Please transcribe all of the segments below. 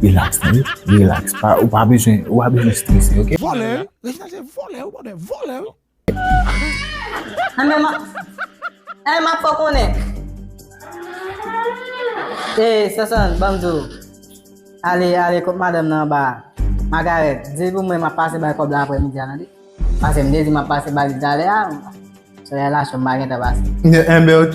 Relax tande, relax. Pa, ou pa bezwen, ou pa bezwen strese, ok? Vòlè wi, Reginald se vòlè wi bòdè, vòlè wi. Anben ma, eh ma fè w konnen. Eh Sonson, banm di w. Ale, ale kot madanm nan anba a. Magarèt, di l pou mwen map pase bay kòb la aprè midi a tande. Pase m te di map pase ba li talè a, solèy la cho m pa gentan pase. Enben ok.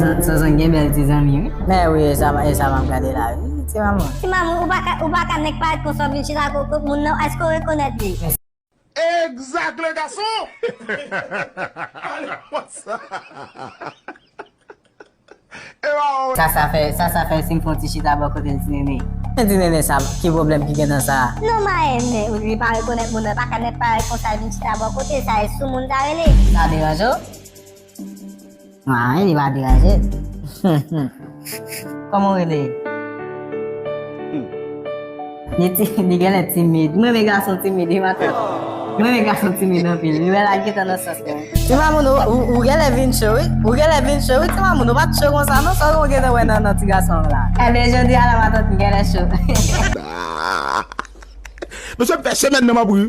Sonson gen bèl ti zanmi wi. Mè wi e sa e sa map gade la wi ti mamoun. Ti mamoun ou paka ou paka nèg parèt konsa ou vin chita kot kot moun nan èske ou rekonèt li. Exact le garçon! Allez, what's up? Ewa oo. Sasa fè sasa fè sim fon ti chita bò kotel ti nene. Men ti nene sa ki pwoblèm ki gen nan sa. Non marenn men ou di li pa rekonèt moun nan pa ka nèt parèt konsa vin chita bò kotel sa e sou moun sa rele. Sa deranje w? Marenn li pa deranje. Humm humm. Kòman w rele? Humm. Li ti, li genlè timid. M renmen gason timid wi matant. M renmen gason timid anpil. Li wè lal gentan nan sans mwen. Ti Mamoun ou genlè vin cho wi. Ou genlè vin cho wi ti Mamoun. Ou pat cho konsa non. Sa ou gentan wè nan ti gason an la. Ebyen jodi a la matant m genlè cho. Mesye m fè semèn nan m ap ri.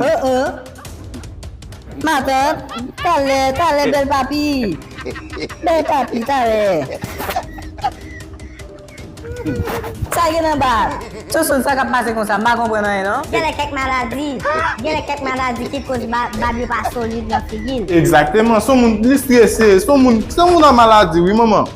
Oh oh. Matant, talè, talè bèl papi. Bèl papi, talè. Sa gen anba? Soso, sa kap pase konsa? M pa konprann anyen non. Genlè kèk maladi, genlè kèk maladi ki koz bab yo pa solid nan figi l. Exactement, son moun li strese, son moun, son moun an maladi wi manman.